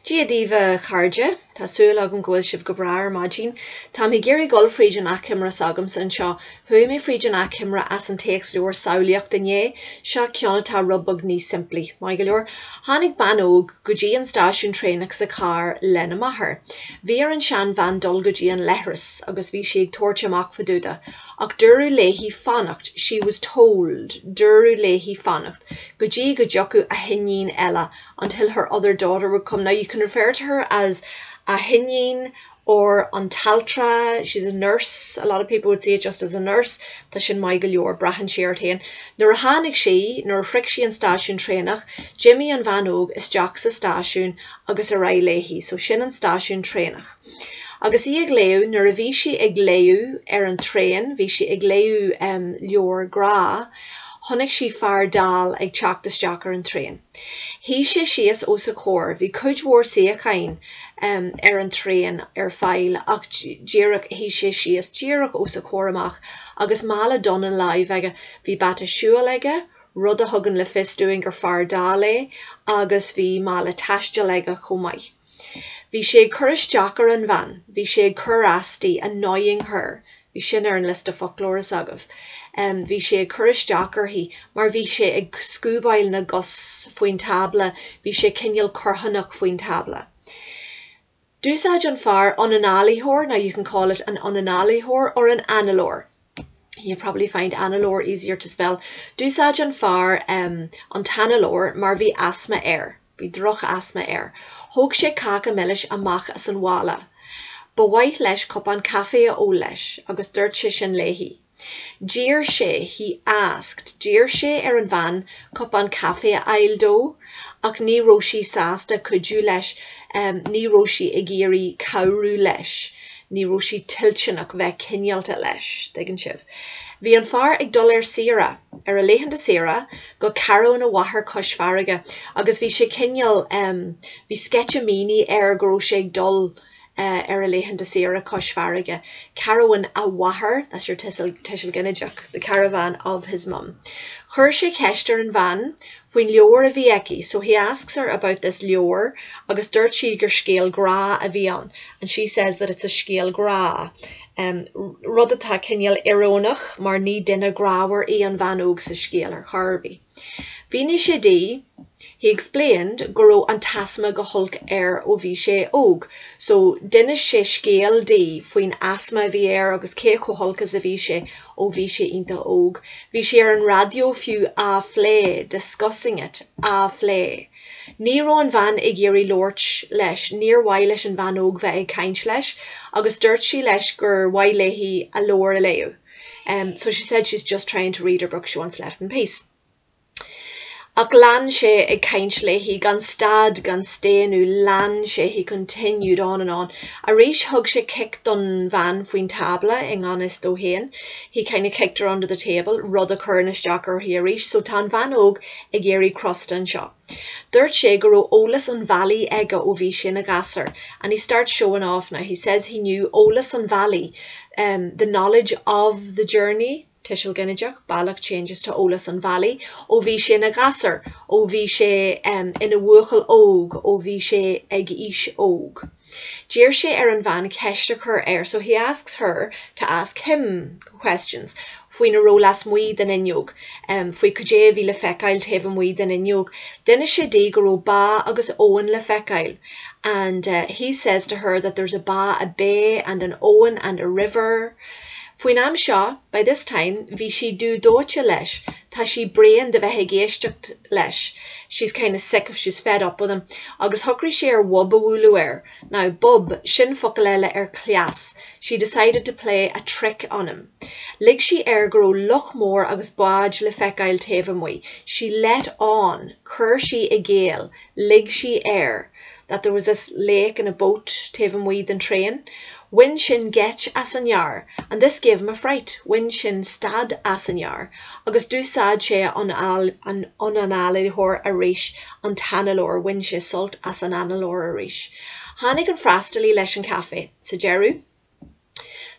Dia daoibh a chairde, tá súil agam go bhfuil sibh go breá ar maidin. Táim ag iarraidh dul fríd an achoimre s'agamsa anseo. Chuaigh mé fríd an achoimre as an téacsleabhar Samhlaíocht inné, seo ceann atá rud beag níos simplí. Maith go leor. Tháinig bean óg go dtí an stáisiún traenach sa charr lena máthair. Bhí ar an seanbhean dul go dtí an leithreas agus bhí sí ag tabhairt amach fadúda. Ach dúradh léi fanacht, she was told, dúradh léi fanacht, go dtí go dtiocfadh a hiníon eile, until her other daughter would come. Now you can refer to her as a hiníon or an t-altra, she's a nurse, a lot of people would see it just as a nurse, tá sin maith go leor, braitheann sé ort féin. Nuair a tháinig sí, nuair a shroich sí an stáisiún traenach, d'imigh an bhean óg isteach sa stáisiún agus ar aghaidh léi. So sin an stáisiún traenach. agus í ag léamh, nuair a bhí sí ag léamh ar an traein, bhí sí ag léamh leabhar grá, chonaic sí fear dall ag teacht isteach ar an traein. Shuigh sé síos os a comhair. Bhí cuid mhór suíocháin ar an traein ar fáil ach díreach, shuigh sé síos díreach os a comhair amach agus mála donn ina láimh aige. Bhí bata siúil aige, rud a thugann le fios dúinn gur fear dall é, agus bhí mála taistil aige chomh maith. Bhí sé ag cur isteach ar an bhean, bhí sé ag cur as di, annoying her. Bhí sin ar an liosta foclóra s'agaibh. Bhí sé ag cur isteach uirthi mar bhí sé ag scuabáil na gcos faoin tábla, bhí sé cineál corrthónach faoin tábla. D'úsáid an fear ionanáilitheoir, now you can call it an ionanáilitheoir or an análóir. you probably find análóir easier to spell. D'úsáid an fear um, an t-análóir mar bhí asma air, bhí drochasma air. Thóg sé cáca milis amach as an mhála. Ba mhaith leis cupán caife a ól leis agus dúirt sé sin léi. D'iarr sé, he asked, d'iarr sé ar an bhean cupán caife a fháil dó. ach ní raibh sí sásta cuidiú leis, ní raibh sí ag iarraidh cabhrú leis, ní raibh sí toilteanach bheith cineálta leis, tuigeann sibh. Bhí an fear ag dul ar saoire, ar a laethanta saoire, go carabhán a mháthar cois farraige agus bhí sé cineál, em, bhí sceitimíní air go raibh sé ag dul, eh, ar a laethanta saoire cois farraige carabhán a mháthar that's your tuiseal, tuiseal ginideach the caravan of his mum. Chuir sé ceist ar an bhean faoin leabhar a bhí aici so he asks her about this leabhar agus dúirt sí gur scéal grá a bhí ann and she says that it's a scéal grá, em, rud atá cineál íorónach mar ní duine grámhar í an bhean óg sa scéal ar chor ar bith. Mhínigh sé di, he explained, go raibh an t-asma go holc air ó bhí sé óg, so d'inis sé scéal di faoin asma a bhí air agus cé chomh holc is a bhí sé ó bhí sé iontach óg. Bhí sé ar an raidió fiú á phlé, discussing it, á phlé. Ní raibh an bhean ag iarraidh labhairt leis, níor mhaith leis an bhean óg bheith ag caint leis agus dúirt sí leis gur mhaith léi a leabhar a léamh. em so she said she's just trying to read her book she wants left in peace ach lean sé ag caint léi gan stad gan staonadh lean sé he continued on and on arís thug sé cic don bhean faoin tábla i ngan fhios dó féin he kind of kicked her under the table rud a chuireann isteach uirthi arís so tá an bhean óg ag éirí crosta anseo. Dúirt sé go raibh eolas an bhealaigh aige ó bhí sé ina ghasúr and he starts showing off now, he says he knew eolas an bhealaigh, em the knowledge of the journey tuiseal ginideach bealach changes to eolas an bhealaigh ó bhí sé ina ghasúr ó bhí sé, em, ina bhuachaill óg ó bhí sé ag aois óg. D'iarr sé ar an bhean ceist a chur air, so he asks her to ask him questions, faoina raibh lasmuigh den fhuinneog, faoi cad é a bhí le feiceáil taobh amuigh den fhuinneog. D'inis sé di go raibh bá agus abhainn le feiceáil and he says to her that there's a bá, a bay, and an abhainn and a river. Faoin am seo, by this time, bhí sí dubh dóite leis, tá sí bréan de bheith ag éisteacht leis, she's kind of sick of, she's fed up with him. Agus shocraigh sí ar bhob a bhualadh air. Now, bob, sin focal eile ar cleas. She decided to play a trick on him. Lig sí air go raibh loch mór agus bád le feiceáil taobh amuigh. She let on, chuir sí i gcéill, lig sí air. that there was a lake and a boat taobh amuigh den traein, bhain sin geit as an fhear and this gave him a fright, bhain sin stad as an fhear agus d'úsáid sé an an análaitheoir arís an t-análaitheoir, bhain sé sult as an análóir arís. Tháinig an freastalaí leis an chaife. Sa deireadh.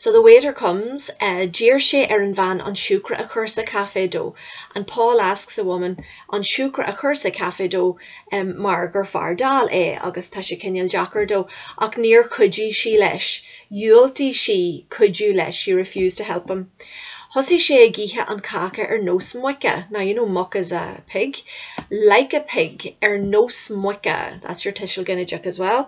So the waiter comes, D'iarr sé ar an bhean an siúcra a chur sa chaife dó, and Paul asks the woman an siúcra a chur sa chaife dó mar gur fear dall é agus tá sé cinéal deacair dó, ach níor chuidigh sí leis, dhiúltaigh sí cuidiú leis, she refused to help him. Thosaigh sé ag ithe an cháca ar nós muice, now you know muc is a pig, like a pig, ar nós muice, that's your tuiseal ginideach as well.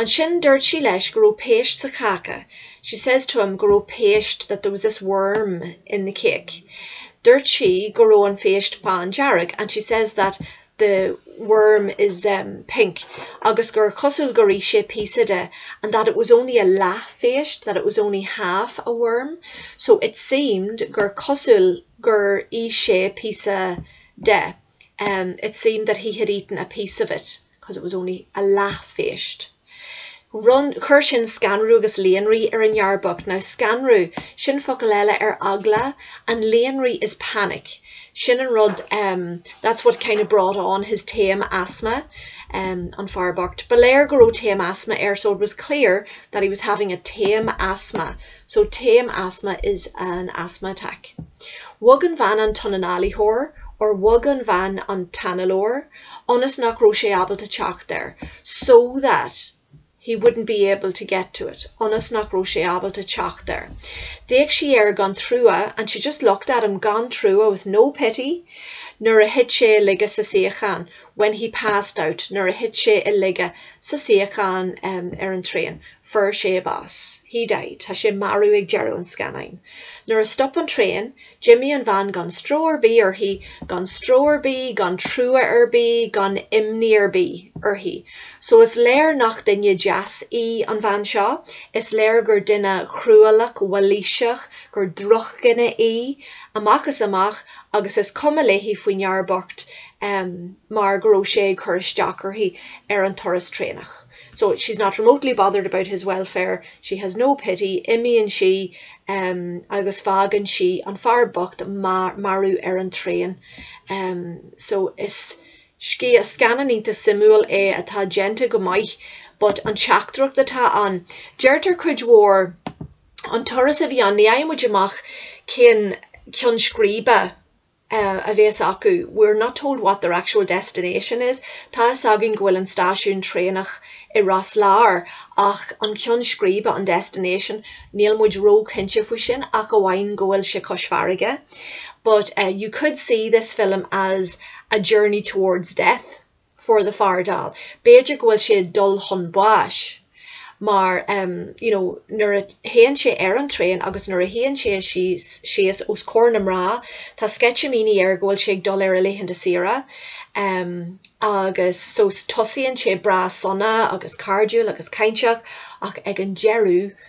Ansin dúirt sí leis go raibh péist sa cháca She says to him go raibh péist that there was this worm in the cake Dúirt sí go raibh an phéist bándearg and she says that the worm is pink agus gur cosúil gur ith sé píosa de and that it was only a leathphéist that it was only half a worm So it seemed gur cosúil gur ith sé píosa de It seemed that he had eaten a piece of it. cos it was only a leathphéist, run, chuir sin scanradh agus líonrith ar an fhear bocht. Now scanradh, sin focal eile ar eagla, and líonrith is panic. Sin an rud, em, that's what kind of brought on his taom asma, em, an fear bocht, ba léir go raibh taom asma air, so it was clear that he was having a taom asma. So taom asma is an asthma attack. Bhog an bhean an t-ionanálaitheoir, or bhog an bhean an t-análóir, ionas nach raibh sé ábalta teacht air so that he wouldn't be able to get to it ionas nach raibh sé ábalta teacht air. D'fhéach sí air gan trua and she just looked at him gan trua, with no pity nuair a thit sé i laige sa suíochán when he passed out nuair a thit sé i laige sa suíochán ar an traein. Fuair sé bás. He died. Tá sé marbh ag deireadh an scannáin. Nuair a stop an traen, d'imigh an bhean gan stró ar bith uirthi, gan stró ar bith, gan trua ar bith, gan imní ar bith uirthi. So is léir nach duine deas í an bhean seo. Is léir gur duine chruálach, mhailíseach, gur drochdhuine í, amach is amach, agus is cuma léi faoin fhear bocht mar go raibh sé ag cur isteach uirthi ar an turas traenach. So she's not remotely bothered about his welfare, she has no pity, imíonn sí um agus fágann sí an fear bocht marbh ar an traein. um So is scéal scannán iontach suimiúil é atá déanta go maith but an teachtaireacht atá ann, deirtear cuid mhór an turas a bhí ann, ní fhaigheann muid amach cén ceann scríbe. a bhéas acu, we're not told what their actual destination is. Tá fhios againn go bhfuil an stáisiún traenach i Ros Láir ach an ceann scríbe, an destination, níl muid ró-chinnte faoi sin ach amháin go bhfuil sé cois farraige. But you could see this film as a journey towards death. for the fear dall. B'fhéidir go bhfuil sé ag dul chun báis mar em you know nuair a théann sé ar an traein agus nuair a shuíonn sé síos os comhair na mná tá sceitimíní air go bhfuil sé ag dul ar a laethanta saoire em agus so tosaíonn sé breá sona agus cairdiúil agus cainteach ach ag an deireadh